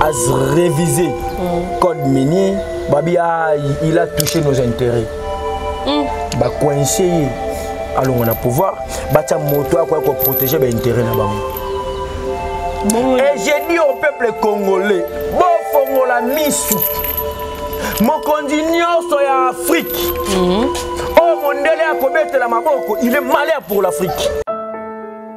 as révisé mm. code minier babi ah, il a touché nos intérêts mm. bacoince ye alongo na pouvoir batya moto akoya koprotege baintérêt na bango et je dis au peuple congolais bofongola misu mokonzi nyonso ya afrike mm. oyo mondele akobetela maboko il est malheur pour l'afrique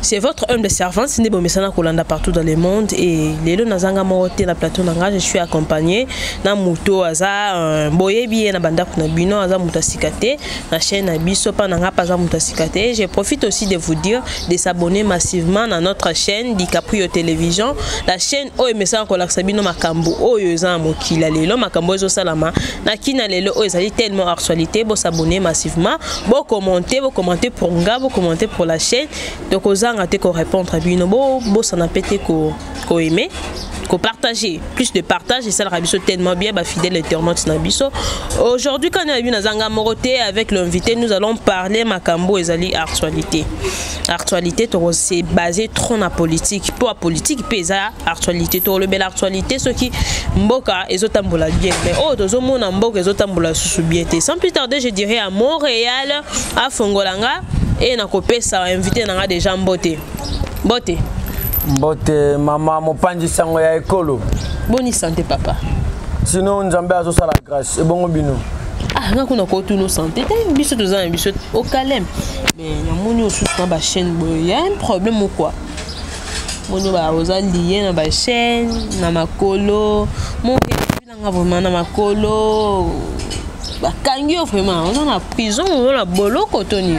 C'est votre humble servante, c'est Bomesana Kolanda partout dans le monde. Et les deux Nazanga Moroté, la plateau Nanga, je suis accompagné. Na Mouto, Aza, euh, Boyebi, na Banda Kunabino, Aza Moutasikate, na chaîne Abisso, Pananga, Paza Moutasikate. Je profite aussi de vous dire de s'abonner massivement à notre chaîne DiCaprio Télévision. La chaîne Oyo Mesana Kolanda Sabino Makambo, Oyo Zan Mokila, Lelo, Makambo Zo Salama, Nakina Lelo, Oyo Zali tellement actualité, Bo s'abonner massivement. bo commenter bo commenter pour nga bo commenter pour la chaîne donc ozanga te ko répondre à bino bo bosana pe te ko ko aimer ko partager plus de partage et ça la biso tellement bien ba fidèle internaute na biso aujourd'hui quand on a vu nazanga moroté avec l'invité nous allons parler makambo ezali actualité actualité toko se baser trop na politique mpo ya politique mpe eza actualité tokolobela actualité soki mboka ezotambola bien mais oyo oh, tozomona mboka ezotambola lisusu bien te sans plus tarder je dirais à montréal afongola nga e nakopesa invité na nga déjà mbote mbote mbote mama mopanzi sango ya ekolo boni sante papa sino nzambe azosala grâce ebongo bino ah nga kuna kotuna sante te eh, biso toza na biso okaleme eh, namoni osusu na bachaîne boye ya un problème quoi moni oza lie na bachaîne na makolo mobilanga vraiment na makolo bakangi yo vraiment oza na prison oza na boloko toni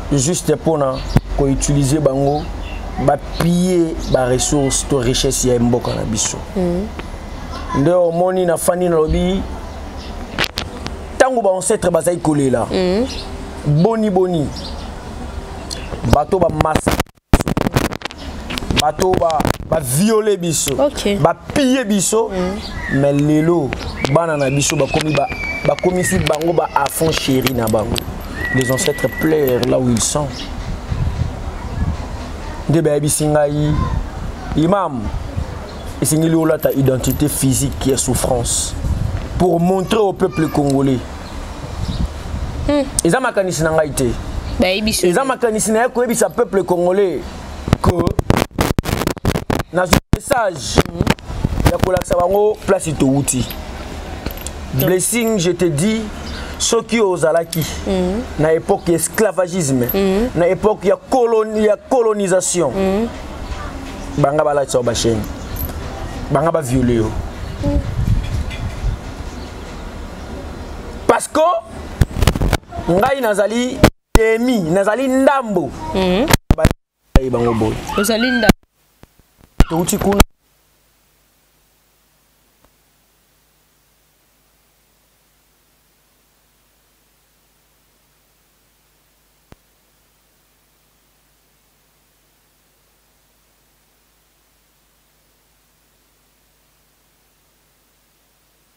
juste pona ko utiliser bango ba piller ba ressources to richesse ya mboka na biso mm. nde omoni na fani nalobi ntango baancetre bazali kolela mm. boni boni bato bamasa bato ba baviole biso okay. bapille biso mm. mais lelo bana na biso bakomi ba, bakomisi bango ba afon chéri na bango les ancêtres pleurent là où ils sont nde bayebisi ngai imam esengeli olata identité physique ya souffrance pour montrer au peuple congolais hmm. eza makanisi na ngai te eza makanisi na ye koyebisa peuple congolais que nazwi message hmm. ya kolakisa bango place towuti blessing je te dis soki ozalaki hmm. na époque ya esclavagisme na époque ya, colon, ya colonisation banga balatisa yo basheni banga baviole yo parce que ngai nazali demi nazali ndambo mm. bango boye ozali ndambo touti kuna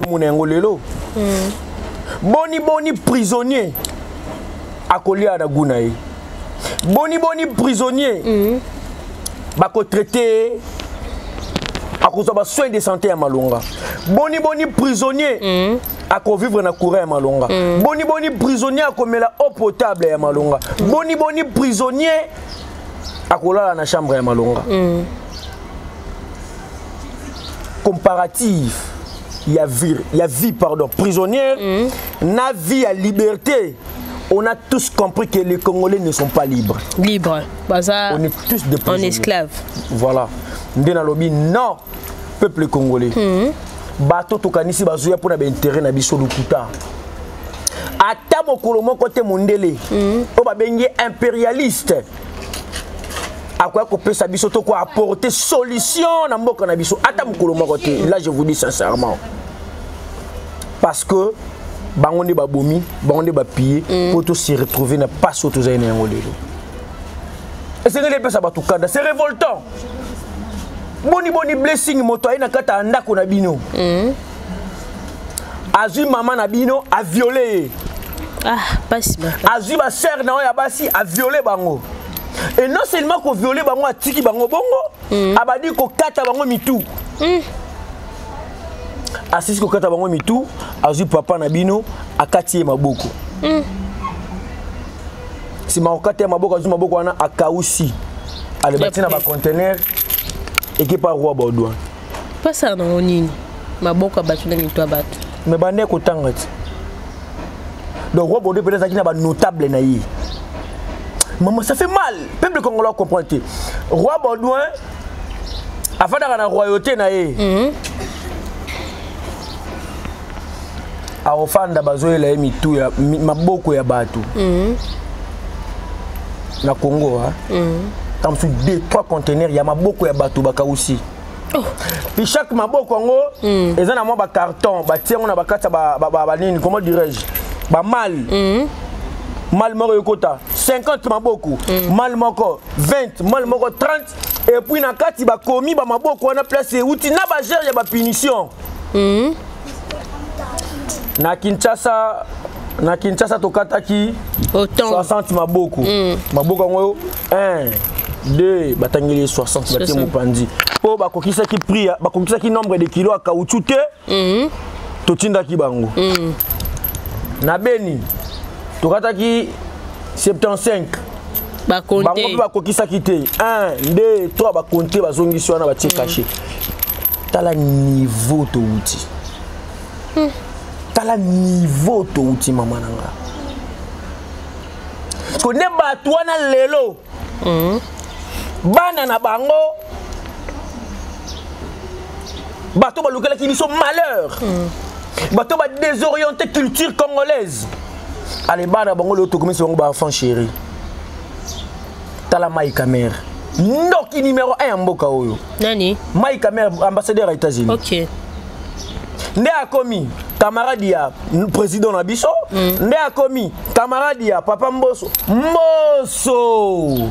tomona yango lelo hmm. boni boni prisonnier akolia na gu na ye boni boni prisonnier hmm. bakotraite akozwa basoin de santé ya malonga boni boni prisonnier hmm. akovivre na courant ya malonga boni boni prisonnier akomela eau potable ya malonga boni boni prisonnier akolala na chambre ya malonga mm. comparative ya vie, ya vie pardon, prisonnière mm. na vie ya liberté on a tous compris que les Congolais ne sont pas libres. Libres. Baza, on est tous des prisonniers. En esclaves. Voilà. Ndena Lobi, non, peuple congolais. Mm -hmm. Bato tokanisi bazoya pour na ba intérêt na biso lokuta. ata mokolo moko te mondele mm. oyo babengi impérialiste akoya kopesa biso to ko apporter solution na mboka na biso ata mokolo moko te là je vous dis sincèrement parce que bango nde babomi bango nde bapille mpo mm. tosi retrouve na mpasi oyo tozali na yango lelo esengeli epesa bato kanda c'est révoltant boni boni blessing moto aye na kati ya ndako na bino mm. azwi mama na bino aviole ye ah, azwi basere na oyo ya basi aviole bango e non seulement koviole bango atiki bango bongo mm. abandi kokata bango mitu mm. asisi kokata bango mitu azwi papa na bino akati ye maboko mm. nsima kokata ye maboko azwi maboko wana akausi alebati na bacontener ekipa roi baudouin pasaka nango nini maboko ya bato na mito ya bato me banda ekotanga ti donc roi bodo mpe azalaki na banotable na ye mama ça fait mal peuple congolais acomprendre te roi baudouin afandaka na royauté na ye mhm. akofanda bazoyela ye mitu ya maboko ya bato mm. na congo mm. ntango mosusu deux trois contenaire ya maboko ya bato bakausi oh. puis chaque maboko yango mm. eza na mwa bacarton batie yango na bakati ya banini ba, ba, comment dirais-je bamale mm. male moko ekota 50 maboko mm. male moko 20 male moko 30 epuis na kati bakomi bamaboko wana place euti na bagere ya bapunition mm. na kinshasa na kinshasa tokataki 60 maboko mm. maboko yango oyo 1 2 batangeli 60 batie mopanzi mpo bakokisaki prix bakokisaki nombre de kilo ya kauchu te mm. totindaki bango mm. na beni tokataki 75 bango mpe bakokisaki te 1 2 3 bakonte bazongisi wana batie mm. kashe tala niveau towuti hmm. tala niveau towuti mama na nga parceke nde bato wana lelo hmm. bana na bango bato balukelaki biso malheur hmm. bato badésoriente culture congolaise ale bana bango leo tokomisi bango baenfant chéri tala mai camere ndoki numero 1 ya mboka oyo nani mai camere ambassadeur ya états-unis okay. nde akomi camarade ya président na biso mm. nde akomi camarade ya papa mboso mboso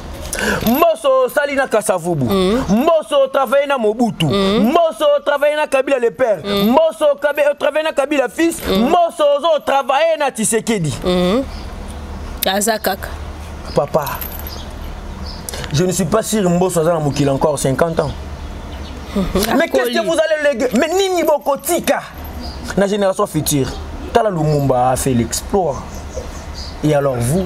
mboso osali na kasavubu mm. mboso otravaille na mobutu mm. mboso otravaille na kabila le père mm. mboso otravaille na kabila fils mm. mboso ozo otravaille na tisekedi mm. aza kaka papa je ne suis pas sûr mboso aza na mokili encore 50 ans mais qu'est-ce que vous allez léguer mais nini bokotika na génération future tala lumumba a fait l'exploit et alors vous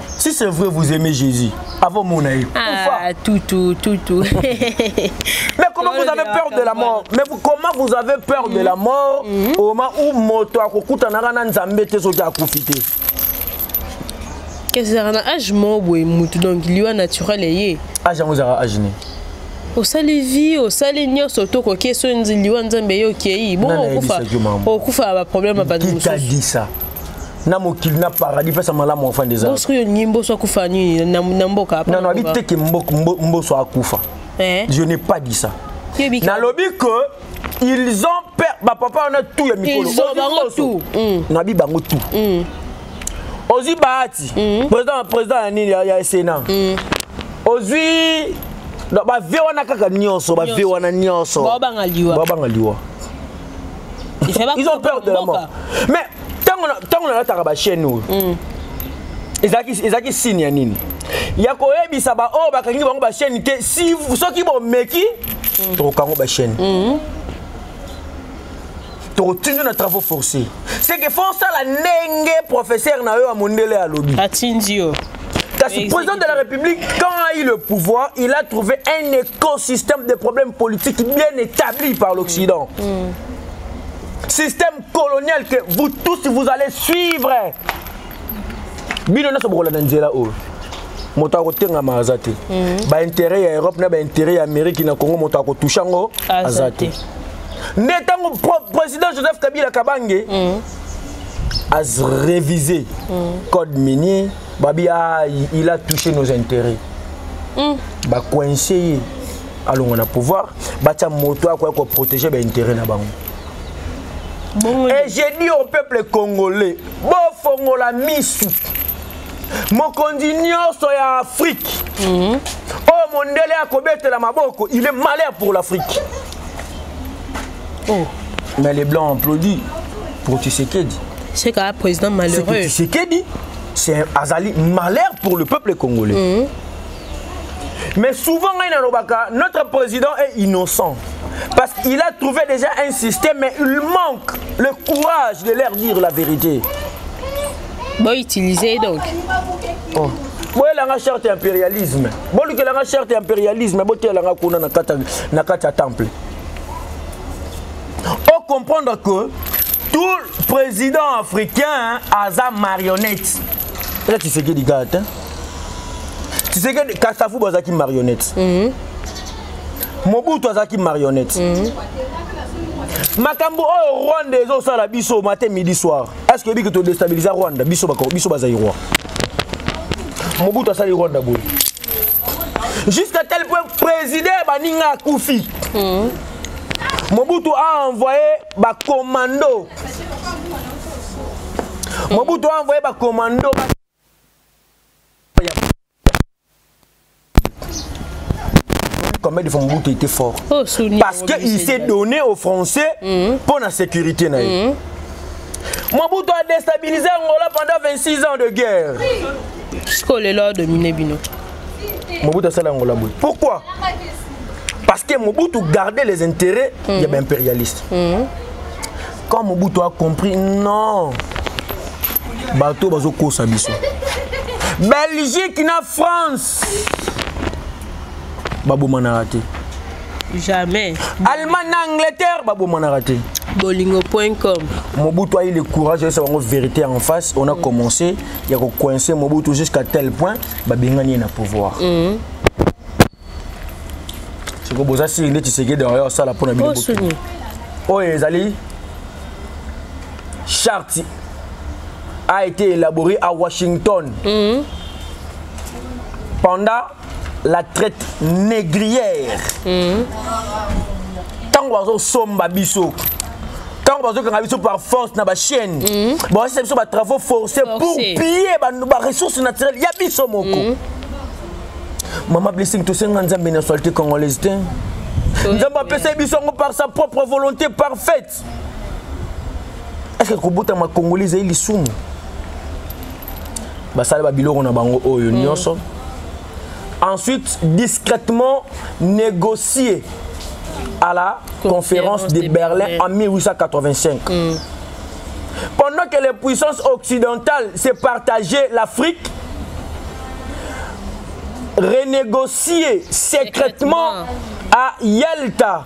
Si c'est vrai, vous aimez Jésus. Avant mon aïe. Ah, tout, tout, tout, tout. mais comment vous avez peur de la mort Mais vous, comment vous avez peur de la mort mhm. au moment où moto akokuta narana nzambe te soki akufite ezalaka na age moko boye motu donc liwa naturel eye age yango ezalaka age nini osali vie osali nyonso to okoki so liwa nzambe ye okei bongo okufa okufa baproblème ya bato mosusu na mokili na paradis pesa malamu afanda eza mboso oyo ngi mboso akufa nini na mboka non non abi te ke mboso akufa eh? je n'ai pas dit ça nalobi que ils ont peur bapapa wana tout ya mikolo hmm. nabi bango tout hmm. ozwi bahati hmm. président président ya nini ya sénat ozwi bave wana kaka nyonso bave wana nyonso babanga liwa ils ont peur de la mort mais ntango nalataka bachaîne oyo mm. ezalaki signe ya nini ya koyebisa baoyo oh, bakangi bango bachaîne te si soki bomeki mm. tokokango bachaîne mm-hmm. tokotindi na travaux forcé seke fo osala ndenge professeur na yo ya mondele alobi atindi yo Kasi président de la République, quand a eu le pouvoir, il a trouvé un écosystème de problèmes politiques bien établi par l'Occident. Mm. Mm. Système colonial que vous tous, vous allez suivre. Bino na sobokola na nzela oyo. moto akotengama aza te mm. baintérêt ya europe na baintérêt ya amérique na congo moto akotouche yango aza te nde ntango président joseph kabila kabange mm. a révisé mm. code minier babi ah, il a touché nos intérêts mm. ba coincé ye alongo na pouvoir batya moto akoya koprotege baintérêt na bango et j'ai dit au peuple congolais bofongola misu mokonzi nyonso ya afrique mm. oyo mondele akobetela maboko il est malheur pour l'afrique oh. mais les blancs applaudi pour tisekedi c'est qu'un président malheureux tisekedi c'est azali malheur pour le peuple congolais mm -hmm. mais souvent ngai nalobaka notre président est innocent parce qu'il a trouvé déjà un système mais il manque le courage de leur dire la vérité bon utiliser donc oh. boyelanga charte ya impérialisme bolukelanga charte ya impérialisme boteyelanga kuna na kati ya temple o comprendre que tout président africain aza marionnette eza tshisekedi kaka te tshisekedi kasafu bazalaki marionnette mm -hmm. mobutu azalaki marionnette mm -hmm. makambo oyo rwanda ezosala biso matin midi soir est ce que oyebiki todestabiliza rwanda biso, biso bazairoi mobutu asali rwanda boye jusqu'à tel point président ya baninga akufi hmm. mobutu a envoyé bacommando mobutu a envoyé bacommando combien de fois mobutu était fort oh, parce que il s'est donné aux français hmm. mpo na sécurité na ye hmm. mobutu a déstabilisé angola pendant 26 ans de guerre sikoyo lelo adomine bino mobutu asala yango la boye pourquoi parce que mobutu garde les intérêts mm. ya baimpérialiste mm. quand mobutu a compris non bato bazokosa biso belgique na france babomanaka te jamais allemagne na angleterre babomanaka te bolingo.com mobutu ayi le courage ayesa bango vérité en face on a mm. commencé ya ko coincer Mobutu jusqu'à tel point ba bengani ye na pouvoir mm -hmm. siko boza siri nde tshisekedi oyo asala mpo na bino oyo ezali charte a été élaborée à Washington mm -hmm. pendant la traite négrière mm. ntango bazosomba biso ntango bazokanga biso par force na bachaîne mm. baosisa biso batravaux forcé pour piller baressource naturelle ya biso moko mm. mama blessing tosenga nzambe na société congolaise te nzambe apesaki biso yango par sa propre volonté parfaite eke kobotama congolais ezali lisumu basala babiloko na bango oyo mm. nyonso ensuite discrètement négocier à la conférence de Berlin en 1885. Mm. Pendant que les puissances occidentales se partageaient l'Afrique, renégocier secrètement à Yalta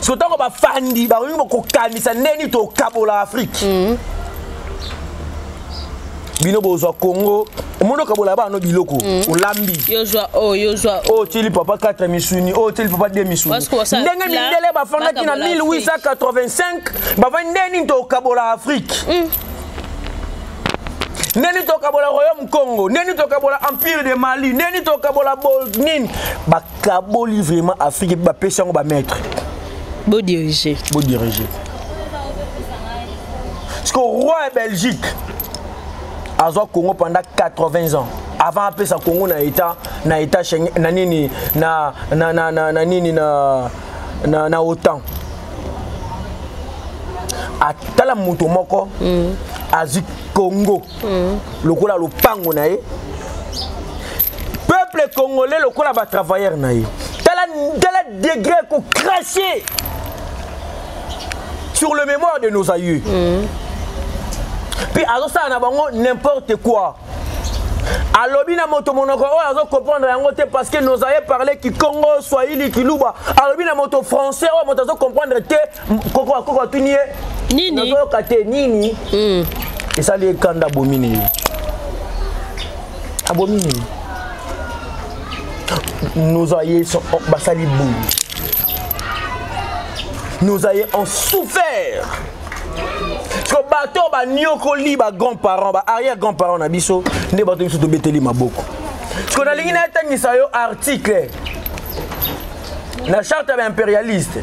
soki ntango bafandi bakoki kokanisa nde nini tokabola afrike mm. bino bozwa congo omoni okabola bano biloko mm. olambi oyo oh, tili papa 4 misuni oyo oh, tili papa 2 misuni ndenge mindele bafandaki na 1885 bafandi nde nini tokabola afrike mm. ndeni tokabola royaume congo ndeni tokabola empire de mali ndeni tokabola bolnini kaboli vraiment afrique ba pesi yango ba maître bo diriger bo diriger parce que roi de Belgique azwa Congo pendant 80 ans avant apesa Congo na état na état na nini na na na na, na nini na na, na OTAN atala moto moko mm. azwi Congo mm. lokola lopango na ye peuple congolais lokola batravailleur na ye tala, tala degré kokrache sur le mémoire de nos aïeux mm. puis azosala na bango n'importe quoi alobi na moto monoko oyo azo comprendre yango te parce que nos aïeux parle kikongo swahili kiluba alobi na moto français oyo moto azo comprendre te koko koko atuni ye nini nazoyoka te nini hmm. esali ekanda abomi nini abomi nini nos aïeux sont basali boye nos aïeux ont souffert ko bato oyo baniokoli bagrand parent ba arrière grand parent na biso nde bato biso tobeteli maboko siko nalingi nayetangisa yo article na charte ya baimperialiste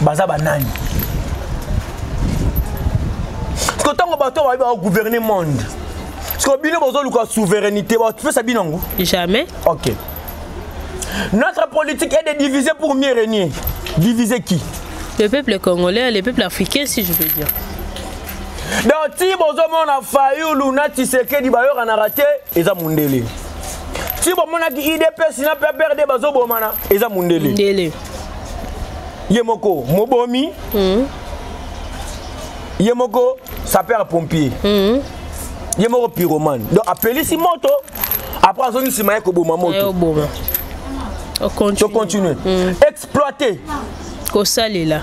baza banani parceke ntango bato bayebi bagouverne monde parceke bino bozoluka souveraineté bapesa bino yango jamais ok notre politique est de diviser pour mieux régner diviser qui le peuple congolais le peuple africain si je veux dire donc ti bozomona fayulu na tisekedi bayokanaka te eza mondele ti bomonaki idps na pprd bazobomana eza mondele ye moko mobomi mm. ye moko sapeur pompier mm. ye moko pyromane donc apelisi moto après azongi nsima ye koboma moto tocontinue mm. exploite kosalela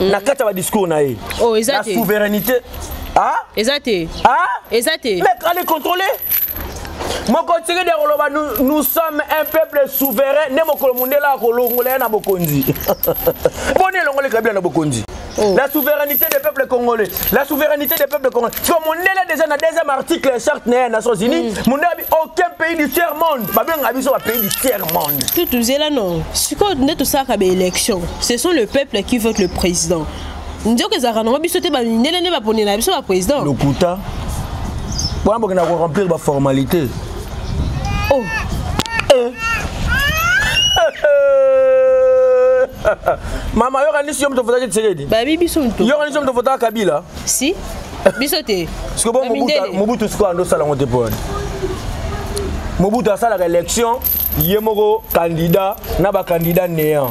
na kati ya badiscours na ye oh, la souveraineté ah? eza te ah? eza te mec allez contrôler mokotiki de koloba nous sommes un peuple souverain nde mokolo mondela akolongola ye na bokonzi boni elongoli kabila na bokonzi Oh. La souveraineté des peuples congolais. La souveraineté des peuples congolais. Parce que Mondela déjà dans le deuxième article charte des Nations Unies, mm. Mondela dit aucun pays du tiers monde. Pas bien un pays du tiers monde. Tout tout là non. Ce qu'on est tout ça comme élection. ce sont le peuple qui vote le président nzoka ezalaka nango biso te bamindele nde baponela biso baprésident lokuta wana bokenda koremplir baformalité oh. eh. mama yokanisi yo moto ofotaki tshisekedi babi biso moto yokanisi yo moto ofotaka kabila si biso te siko bo mobutu sikoyo ando osala yango te mpo wana mobutu asalaka élection ye moko candidat na bacandidat néant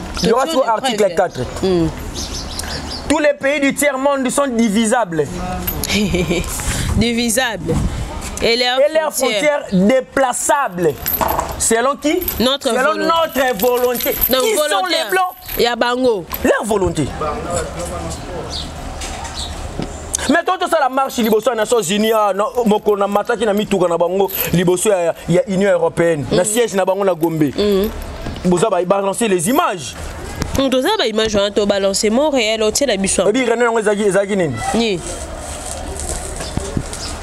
Yoka sikoyo article 4 hmm. tous les pays du tiers monde sont divisables divisables et leurs et leur frontières déplaçables selon qui notre selon volonté. notre volonté Donc, qui volonté. sont les blancs il y a bango leur volonté mais to tosala marche liboso ya nations unis ah, mokolo na mataki na mituka na bango liboso ya union européenne na mm. siège na bango na gombe mm. boza ba balancer les images hmm, toza ba image wana to balancer mon réel otiela biso oyebi reno yango ezalaki ezalaki nini ni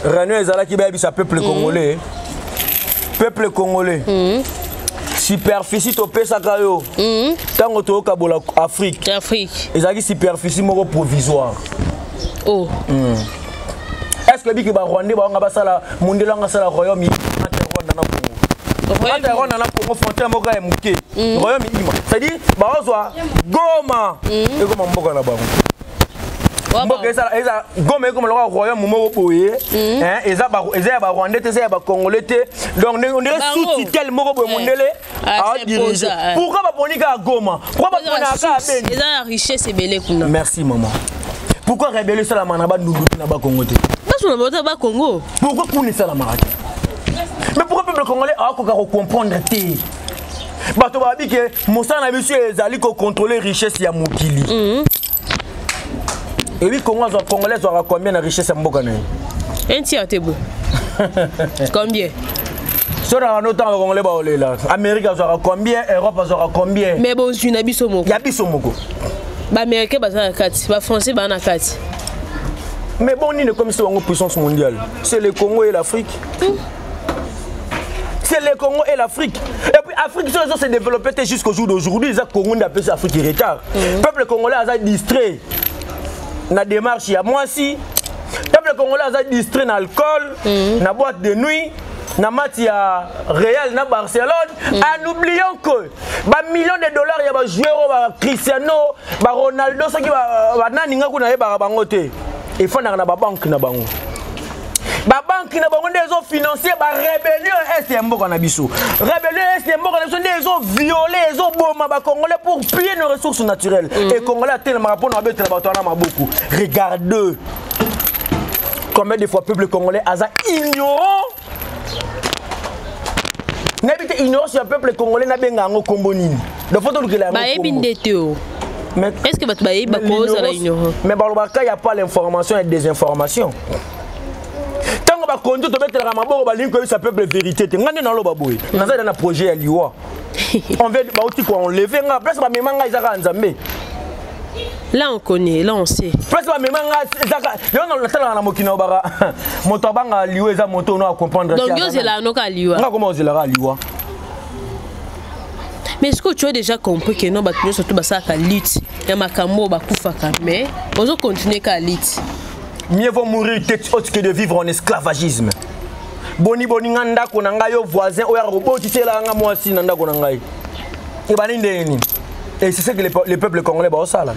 reno ezalaki bayebisa peuple hmm. congolais peuple congolais hmm. superficie topesaka yo ntango toyokabola afrique ezalaki superficie moko provisoire oh. mm. est ce que biki ba rwandais ba wanga basala mondelo anga sala royaume entre rwanda na congo entre rwanda na congo frontière moko ya moke mm. royaume ima c'est à dire baozwa goma mm. ekoma mboka na bango mboka ezala eza goma ekoma lokola royaume moko boye mm. eza ya barwandais te eza ya bacongolais te donc ndenge sous tutelle moko boye mondele adirige ah, pourquoi baponi kaka goma pourquoi bapona kaka beni eza na richesse ebele kuna merci maman pourquoi rebele esalamaka na bandundu na bakongo te basona bauta bakongo pourquoi kuna esalamaka te mais pourquoi peuple congolais akoka kocomprendre te bato babi ke mosala na biso ezali kocontrole richesse ya mokili mhm. ebi congo azwa congolais azwaka combien na richesse ya mboka na ye un tiers te bo combien so na bano ntango bakongole baolela amérika azwaka combien europe azwaka combien mais bozwi na biso moko ya biso moko baaméricain baza na kati bafrançais baa na kati mais bon nini ekomisi bango puissance mondiale c'est le congo et l'afrique hmm. c'est le Congo et l'Afrique. Et puis l'Afrique, ils ont se développé jusqu'au jour d'aujourd'hui. Ils ont Congo, on appelle ça Afrique en retard. Mm. Peuple congolais a distrait dans la démarche. Il y a moi aussi. Peuple congolais a distrait dans l'alcool, dans mm. la boîte de nuit. na mati ya real na barcelone mm. en oubliant que bamillion de dollars ya bajoueur oyo bacristiano baronaldo soki banani ngai kuna yebaka bango te efandaka na babanke na bango babanki na bango nde ezo financer ba rébellion est ya mboka na biso rébellion est ya mboka na biso nde ezo viole ezoboma bacongolais pour piller nos ressources naturelles mm -hmm. e congolais atelemaka mpo na babetela bato wana maboko regarde combien de fois peuple congolais aza ignorant nayebi te ignorance ya peuple congolais nabenga yango nkombo nini donc fo tolukela yango bayebi nde te o mais est ce que bato bayebi bakozala ignorant mais balobaka ya pas l'information ya désinformation ntango bakonzi tobetelaka maboko balingi koyebisa peuple vérité te ngai nde naloba boye naza eda na projet ya liwa envers bauti koenleve nga place bamema ngai eza kaka nzambe Là on connaît, là on sait. Parce que même nga ezaka yo na latala na mokina obaka moto abanga liwa eza moto no a comprendre. Donc yo zela no ka liwa. Nga comment zela ka liwa. mais est-ce que tu as déjà compris que non bato nyonso to basalaka lutte ya makambo oyo bakufaka mais ozo continue kaka lutte mieux vaut mourir tete haute que de vivre en esclavagisme boni boni nga ndako na ngai yo voisin oyo akobotisela nga mwasi na ndako na ngai ebandi ndenge nini et c'est ce que le peuple congolais baosala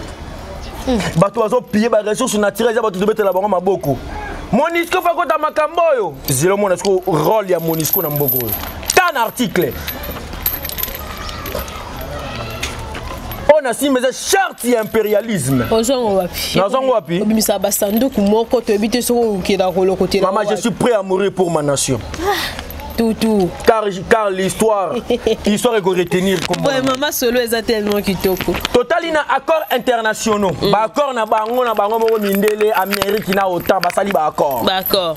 hmm. bato bazopille baressource naturel eza bato tobetela bango maboko monisco fakota makambo oyo zelo mona siko role ya monisco na mboka oyo tan article oyo nasimba eza charte ya impérialisme ozwango wapi nazwango wapi obimisa basanduku moko toyebi te soki okokenda kolokotela mama je suis prêt à mourir pour ma nation ah. tout, tout. Car, car l'histoire, l'histoire est retenir. Vraiment, ma solo est tellement kitoko. Total, il y a accords internationaux. Mm. Bah, accord na bango, na bango, moko mindele, Amérique, na autant, bah, sali, bah, accord. Bah, accord.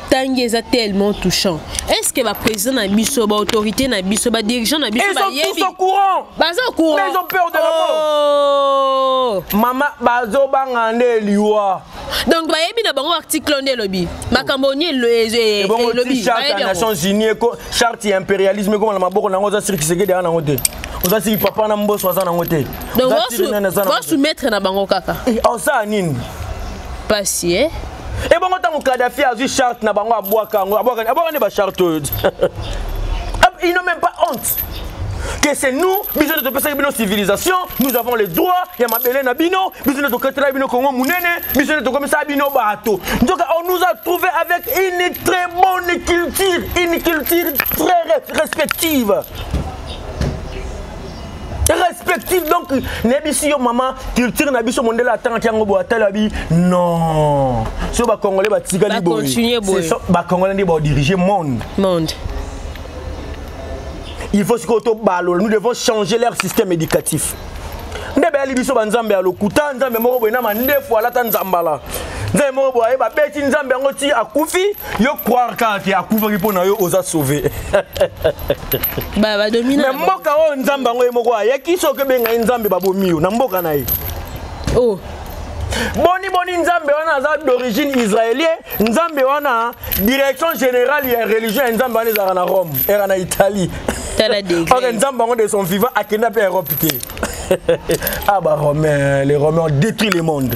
tangi eza tellement touchant est ce que ba président na biso ba autorité na biso ba dirigeant na biso ba yebi ils sont tous au courant baza au courant ils ont peur de la mort oh. maman bazo banga nde liwa donc bayebi na bango article nde elobi makambo ni elobi charte ya nations unis charte ya impérialisme ekoma na maboko na yango oza siri kisekedi aa nango te oza siri papa na mboso aza nango te donc basoumettre na bango kaka osala eh, nini mpasi e eh? ebongo ntango kadafi azwi charte na bango abwaka yango abwaka abwaka nde bacharte oyo ils n'ont même pas honte que c'est nous biso nde topesaki bino civilisation nous avons les droits ya mabele na bino biso nde tokatelaki bino kongo monene biso nde tokomisaka bino bato nzoka on nous a trouvé avec une très bonne culture une culture très respective respective donc nayebisi yo mama culture na biso mondele atangaki yango boye atali abi non so bacongolais batikali boye bacongolais nde baodirige monde monde il faut sikoyo tobalola nous devons changer leur système éducatif nde bayali biso banzambe ya lokuta nzambe moko boye na mandefu alata nzambala nzambe moko boye babeti nzambe yango ti akufi yo croire kaka ke akufaki mpo na yo oza sauve me mboka oyo nzambe yango ye moko ayaki soki okebenga ye nzambe babomi yo na mboka na ye oh. boni boni nzambe wana aza d'origine israélien nzambe wana direction générale ya religion ya nzambe wana ezalaka na rome era na italie ok nzambe yango de son vivant akenda mpe europe te ah ba romain les romain ont détruit le monde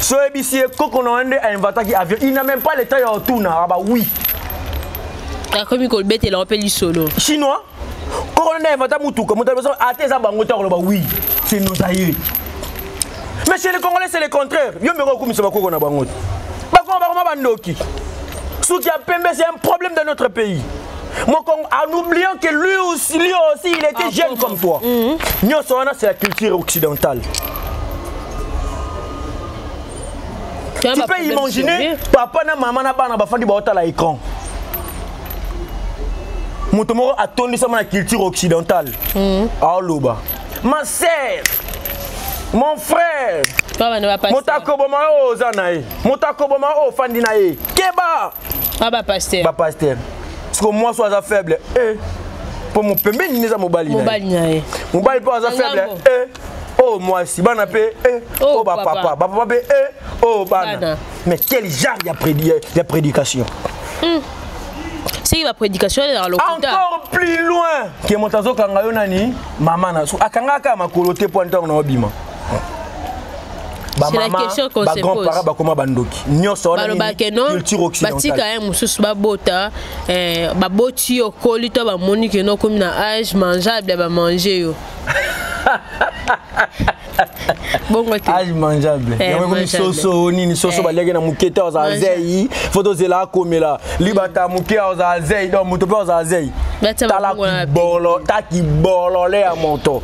so oyebisi ye koko na wana nde ainvataki avion il n'a même pas le temps ya otuna aba oui akomi kobetela yo mpe lisolo chinois koko na nde ainvata motuka moto aliboso ata eza bango te akoloba oui c'est nos aïeux mais chez les congolais c'est le contraire yo mbeko okumisa bakoko na bango te bakoma bakoma bandoki suki ya pembe c'est un problème dans notre pays Mon Congo, en oubliant que lui aussi, lui aussi il était ah, jeune bon, comme toi. Mm -hmm. c'est la culture occidentale. Tu peux imaginer, papa na maman na bana bafandi baotala écran. moto moko atondisama na culture occidentale mm. aoloba ma sœur mon frère moto akoboma oyo oza na ye moto akoboma oyo ofandi na ye keba ah, ba pasteur ba pasteur siko mwasi aza faible eh po mopembeni neza mobali mobali na ye mobali po aza faible eh oh mwasi bana pe eh oh, oh ba papa ba papa pe eh oh bana mais quel genre ya prédi ya prédication hmm. soki baprédication elelaka lokuta encore plus loin ke moto azokanga yo nani mama na so akangaka makolo te mpo ntango na obima bamamabagrandparent bakoma bandoki nyonso wanabatika ye mosusu babota eh, baboti yo okoli to bamoni keno okomi na age mangeable ya bamange yo bongo te age mangeable eh, yango ekomi soso nini soso eh. baliaki na moke te ozala zei fo tozela akomela libata moke ozala zei donc moto mpe ozala zei tala kibolo ta kibolole ya moto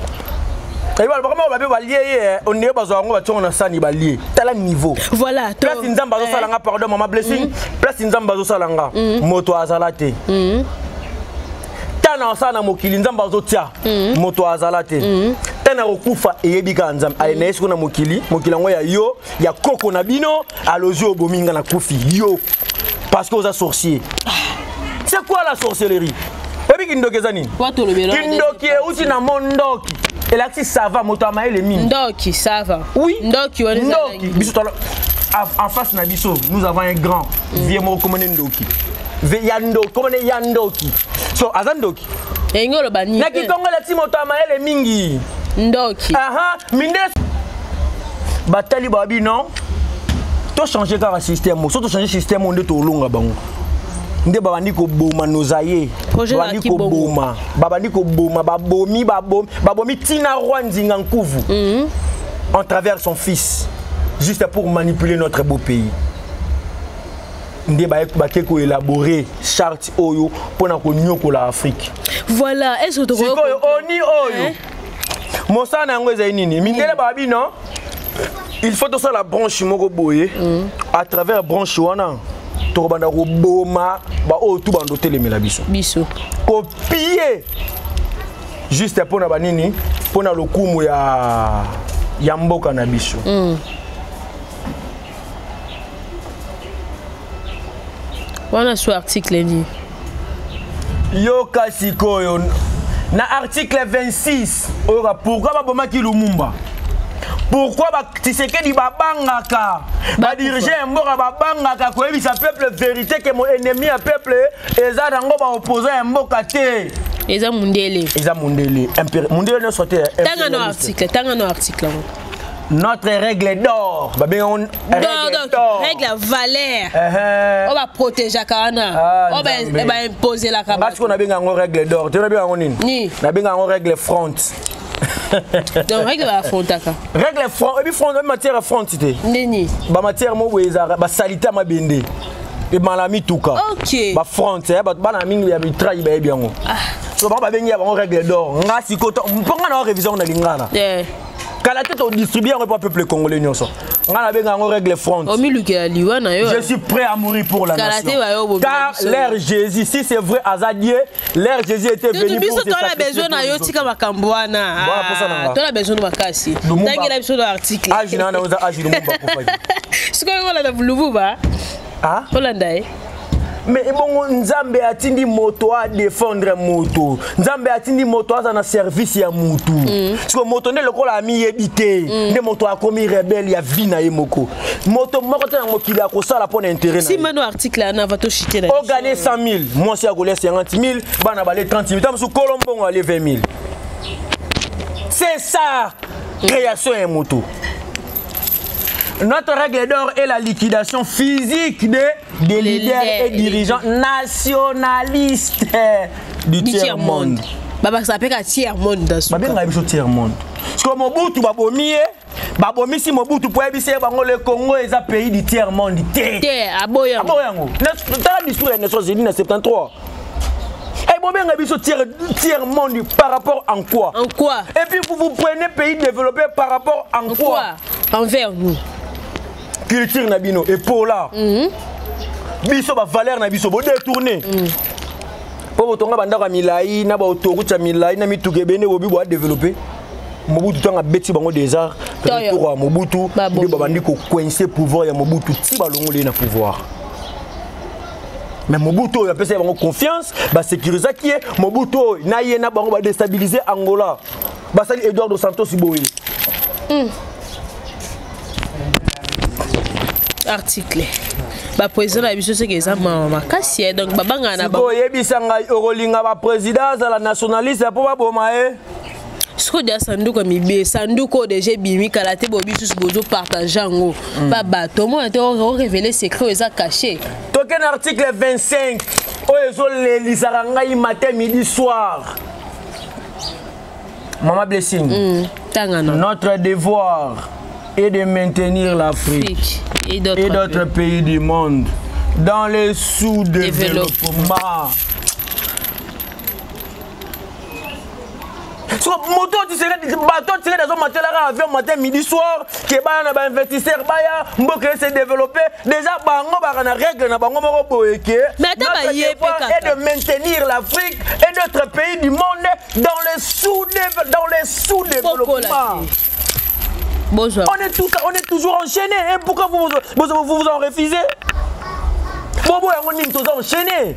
balobaka moko babe balie ye eh. ondeye bazwa yango bationgo na sani balie tala niveau voilà place nzambe azosala eh. nga pardon mama blessing mm. place nzambe azosala nga mm. moto azala te mm. ta na osala na mokili nzambe azotia moto azala te ata na kokufa eyebi kaka nzambe aye na ye siko na mokili mokili yango ya yo ya koko na bino alozwi obomi nga na kufi yo parce que oza sorcier c'est quoi la sorcellerie oyebi kindoki eza nini kindoki euti na mondoki elakisi sava moto ya mayele mingi ndoki sava oui ndoki ndoki biso en face na biso nous avons un grand mm. vie moko komone ndoki ya ndoki komone ya ndoki so aza ndoki elingi oloba nini na kikongo elati moto ya mayele mingi ndoki aha minde batali bawa bino tochange kaka système so tochange système oyo nde tolonga bango nde babandi koboma nozaye babandi koboma babandi koboma babomi babomi babomi ntina roi nzinga nkuvu mm -hmm. en travers son fils juste pour manipuler notre beau pays nde bake koelabore charte oyo mpo na konyokola afrike voilà sikoyo oni oyo eh? mosala na yango ezali nini mindele baba bino il faut tosala branche moko boye mm. à travers branche wana tokobanda koboma baoyo tu bando otelemela biso biso kopie juste mpo na banini mpo na lokumu ya, ya mboka na biso mm. wana su article nini yoka sikoyo na article 26 oyoka pourkui babomaki lumumba pourkui batisekedi babangaka badirige ya mboka babangaka koyebisa peuple verité ke moennemi ya peuple eza nango baopposa ya mboka te eza mundele eza mundele mundele nyonso te tanga no article tanga no article yango notre règle d'or babengi yango règle ya valeur uh-huh. oyo baprotegeaka wana ah, oyo baimposelaka basi ko nabenga yango règle d'or te nabenga yango nini nabenga yango règle front donc règle bafrontaka règle front ebi front ebi matière ya front te nini bamatière moko boye ezalaka basalite ya mabende ebala mituka bafront eh, bato bana mingi ya mitraille bayebi yango ah. so bango babengi ya bango règle d'or nga sikoyo mpo nga na wa révision na lingana kala te todistribue yango epa peuple congolais nyonso ngai nabenga yango règle front omilukela liwa na yo je suis prêt à mourir pour la nation car l'air jésus si c'est vrai aza die l'air jésus était venu biso tola besoin na yo tika makambo wana ah, tola besoin makasi tangela biso na article age na wana oza age lumumba kufa sikoyo olanda lububa ah? olanda ye me ebongo nzambe atindi moto adefendre moto nzambe atindi moto aza na service ya motu mm. siko moto nde lokola amiyebi te mm. nde moto akomi rebele ya vie na ye moko moto moko te na mokili akosala mpo na intere ogane 100 000 mwasi akolia 50 000 bana bale 30 000 ta mosusu kolo mbongo ale 20 000 c'est ça mm. création ya moto mm. Notre règle d'or est la liquidation physique des, des leaders et dirigeants nationalistes du tiers-monde. babakisa mpe ka tiers-monde babengaka biso tiers-monde siko mobutu babomi ye babomisi mobutu mpo ayebisi ye bango le congo eza pays du tiers-monde te aboyango tala discours ya nations unis na 73 Et bon, bien, tiers, tiers monde par rapport en quoi En quoi Et puis vous vous prenez pays développé par rapport en, en quoi, quoi Envers nous. Culture Nabino et pour là. Mm -hmm. Biso, ba valeur Nabiso, vous détournez. Mm. mpo botonga bandako ya milai na baautorute ya milai na mituka ebende bobi boa développe mobutu ntango abeti bango déjà retour ya mobutu nde babandi kocoince pouvoir ya mobutu ti balongoli ye na pouvoir mais mobutu oyo apesaki bango confiance basecurisaki ye mobutu oyo na ye na bango badestabilize angola basali eduardo santos boye mm. article bapresident na biso soki eza mawa makasi ye eh, donc babangana na bango oyebisa ngai okolinga bapresident azala nationaliste mpo baboma ye eh? sikoyo deja sanduku ya mibe sanduku oyo deja ebimi kala te bobi susu bozopartage yango mm. ba bato omona te orevele secret oyo eza cache toke na article 25 oyo ezolelisaka ngai matin midi soir mama blessing mm, tangana notre devoir est de maintenir l'afrique et d'autres pays du monde dans le sous-développement so moto oyo tisekedi bato tisekedi azomatela kaka avion matin midi soir ke baya na bainvestisseur baya mboka ese développe déjà bango baka na règle na bango moko boye ke et de maintenir l'afrique et d'autres pays du monde dans le sous dans le sous développement Bonjour. On est, tout, on est toujours enchaîné. Hein? Pourquoi vous vous, vous, vous, vous en refusez Bobo, on est tous enchaînés.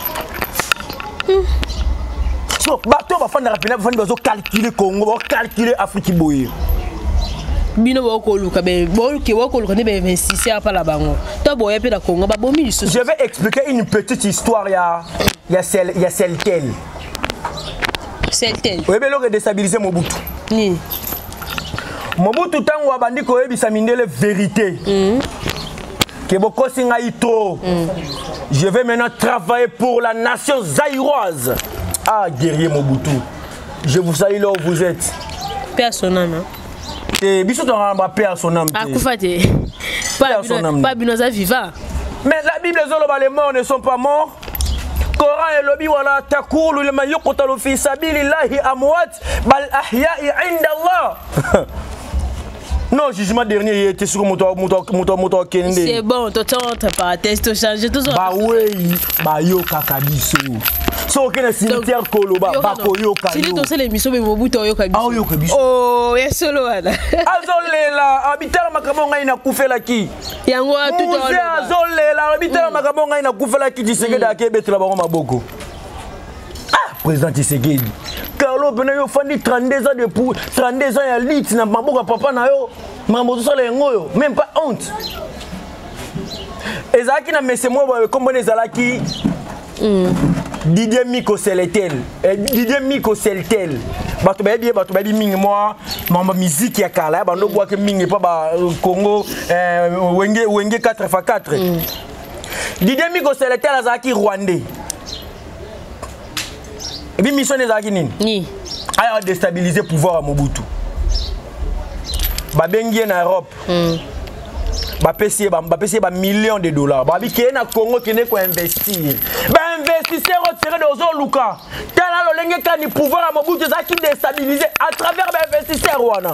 hmm. so bato bafandaka mpena bafandi bazocalcule congo bacalcule afriki boye bino bokoluka boluke bokoluka nde be 26 ya pala bango to boya mpe na congo babomi lisusu je vais expliquer une petite histoire ya ya sel ya seltel seltel oyebi eloko edestabilise mobutu nini mobutu ntango abandi koyebisa mindele verité mm. que bokosi ngai trop mm. je vais maintenant travailler pour la nation zaïroise ah guerrier mobutu je vous salue là où vous êtes paix à son âme te biso tozalaka ba paix à son âme akufa te pa bino aza viva mais la bible ezoloba les morts ne sont pas morts coran elobi wala takulu lima yuqtalu fi sabilillahi amwat bal ahyai inda allah non jugement dernier ye te siko moto akende nde c'est bon tototre paratese tochange bawei bayokaka biso so oke na cimetière koloba bakoyoka tosala émission boye mobutu aoyoka bisoaoyoka biso oh, ya solo wana azolela abitala makambo ngai nakufelaki yango azolela abitala makambo ngai nakufelaki tisekede mm. akebetela bango maboko ah président tshisekedi carlo pena yo ofandi 32 ans de pour 32 ans ya lite na maboko ya papa na yo makambo ozosala yango oyo même pas honte ezalaki na mese moko boye nkombona ezalaki mm. didier miko seletel eh, didier miko seltel bato bayebi ye bato bayebi mingi mwa mambo miziki ya kala ya bando bwaki mingi mpo ba euh, congo eh, wenge, wenge 4 fa 4 mm. didier miko seletel azalaki rwandais ebi mission ne ezalaki nini ni aya destabiliser pouvoir ya mobutu babengi ye na europe mm. bapesi ye bapesi ye bamillion de dollars babi keye na congo kende koinvestir bainvestisseur otire de ozoluka tala lolenge kani pouvoir ya mobutu ezalaki destabiliser à travers bainvestisseur wana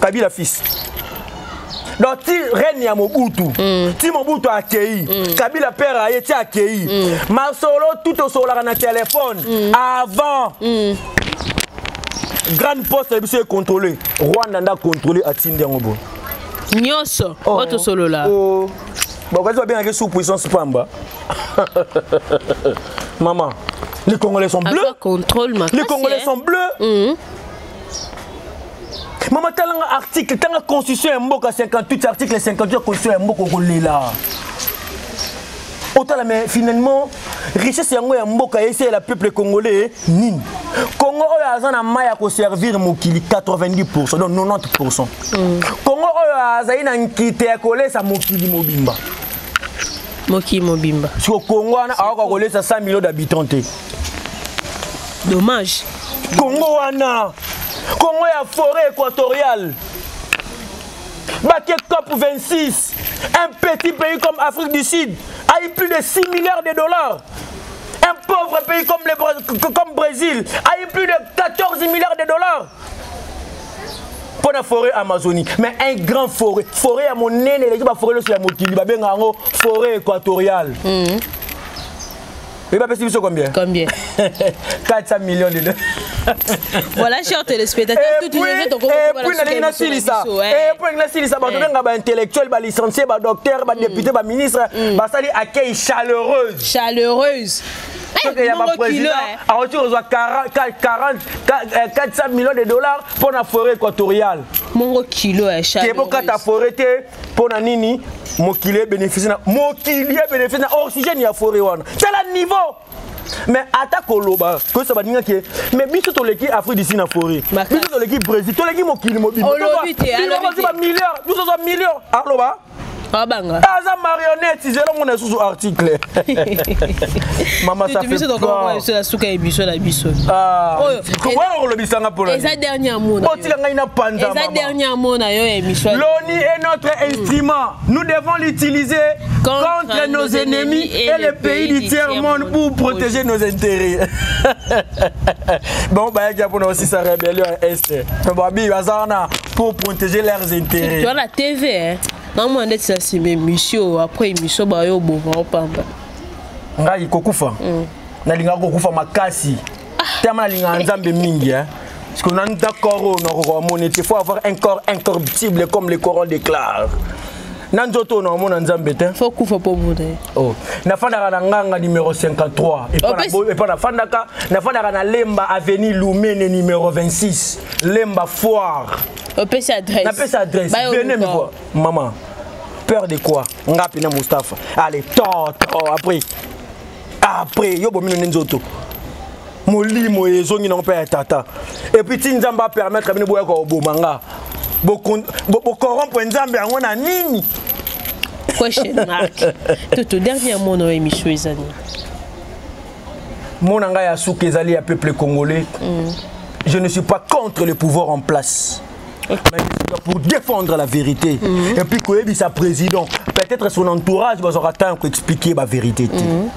kabila fils donc ti reine ya mobutu mm. ti mobutu akei mm. kabila père aye ti akei mm. masolo tout osokolaka na telefone mm. avant mm. grande poste na biso econtrôle rwanda nda contrôle atindi yango boye nyonso oh. oyo tosolola oh. bakoki babengaki sous puissance pamba mama les congolais sont bleus les congolais sont bleus mm -hmm. mama talanga article tanga constitution ya mboka 58 article 58 ya constitution ya mboka okolela otala mais finalement richesse yango ya mboka eseyela peuple congolais nini congo oyo aza na mai ya koservir mokili 90 pourcent donc 90 pourcent mm. congo oyo azali na nkita ya kolesa mokili mobimba mokili mobimba siko congo wana aoka kolesa 100 million d'habitants te dommage Congo wana Congo ya forêt équatoriale Baké COP 26 un petit pays comme Afrique du Sud a eu plus de 6 milliards de dollars un pauvre pays comme le comme Brésil a eu plus de 14 milliards de dollars mpo na forêt amazonie mais un grand forêt forêt ya monene eleki baforêt nyonso ya mokili babengaka yango forêt équatoriale mm -hmm. Oui, bah, c'est combien Combien 400 millions de dollars. voilà chers téléspectateurs tout tout les autres et puis na lina silisa et puis na silisa ba nga ba intellectuel ba licencié ba docteur ba député ba ministre ba sali accueil chaleureuse chaleureuse soki ya baprésident akoki kozwa 400 millions de dollars mpo na forêt équatoriale mongo kilo ya chaleureuse bokata forêt te mpo na nini mokili ebeneficie na mokili ebeneficie na oxygène ya foret wana tala niveau mais ata koloba koyesa baninga ke mais biso toleki afrique du sud na foret biso toleki brésil toleki mokili mobimbaozi bamilliard biso tozwa million aloba abanga aza marionnette zelo mona susu article mama ça fait biso tokoma biso la suka ebiso la biso ah. oyo okoya kolobisa nga pona eza dernier amona otika ngai na panza eza dernier amona yo ya émission l'ONU est notre mm. instrument nous devons l'utiliser contre, contre nos, nos ennemis et, et les pays du tiers monde pour protéger nos intérêts bon bayaki ya pona aussi sa rébellion ya est babi baza wana pour protéger leurs intérêts tu as la tv hein namona ndeti na nsima émission après émission bayo oboma opamba ngai kokufa mm. nalingaka kokufa makasi tellement nalingaka nzambe mingi hein. parce que nanu ta corps oyo nakoka omoni te faut avoir un corps incorruptible comme le coran déclare na nzoto oyo naomona nzambe te fo kufa mpo obune oh. nafandaka na nganga numero 53 epa nafandaka nafandaka na lemba avenue lumene numero 26 lemba foire opesi adresse napesi adresse venez me voir maman peur de quoi ngapi na mustapha allez to to après après yo bomino nde nzoto molimo ezongi nango mpe ya tata epuis ti nzambe apermettre bino boyaka koboma nga bokorompre nzambe yango na nini question mark toto dernier mot na émission ezali mona ngai ya suka ezali ya peuple congolais mm. je ne suis pas contre le pouvoir en place pour défendre la vérité mm -hmm. et puis koyebisa président peut-être son entourage bazwaka ntango koexplike baverité te mm -hmm.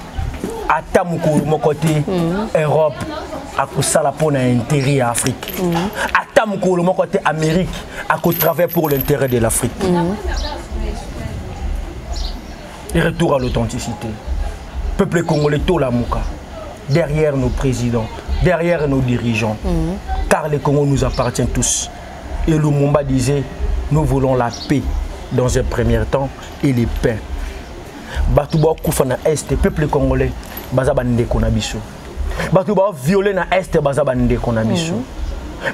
ata mokolo moko te mm -hmm. europe akosala mpo na intérêt ya afrique mm -hmm. ata mokolo moko te amérique akotravaille pour l'intérêt de l'afrique mm -hmm. Et retour à l'authenticité. Peuple congolais, tout la mouka. Derrière nos présidents, derrière nos dirigeants. Mm -hmm. Car le Congo nous appartient tous. Et Lumumba disait, nous voulons la paix dans un premier temps et les paix. Bato ba kufa na est, peuple congolais, baza ba ndeko na biso. Bato ba violer na est, baza ba ndeko na biso. Mm -hmm.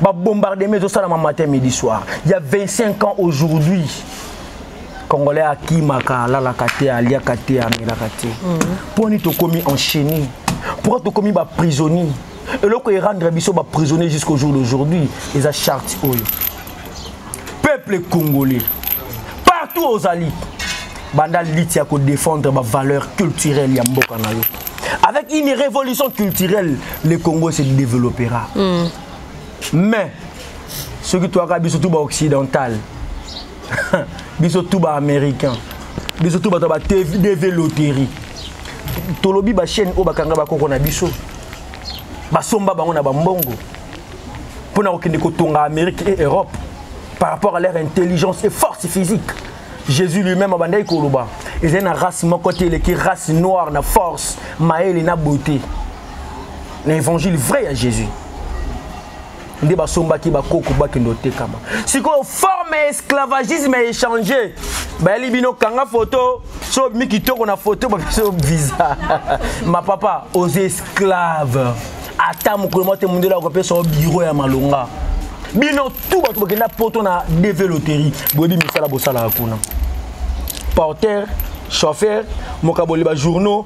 Ba bombardement ezo sala matin midi soir. Il y a 25 ans aujourd'hui. congolais akimaka alalaka te aliaka te amelaka te mpo mhm. nini tokomi enchaîné pourquoi tokomi baprisonnier eloko erendre biso baprisonnier jusqu'au jour d'aujourd'hui eza charte oyo peuple congolais partout ozali banda liti ya kodefendre bavaleur culturelle ya mboka na yo avec une révolution culturelle le congo se développera mm. mais soki toyaka biso tu baoccidental biso tout ba américain biso tout bato ba dv loterie tolobi bachaîne oyo bakanga bakoko na biso basomba bango na bambongo mpo na kokende kotonga amérique et europe par rapport à leur intelligence et force physique jésus lui-même abandaki koloba ezali na race moko te eleki race noire na force mayele na beauté na évangile vrai ya jésus nde basombaki bakoko bakende otekama sikoyo forme ya esclavagisme ya échange bayali bino kanga foto so obimi kitoko na foto babiso visa ma papa oza esclave ata mokolo mwa te mondele akopesa o biro ya malonga bino tu bato bakenda poto na dv loterie boyebi misala bosalaka kuna porter chauffeur mokaboli bajournaux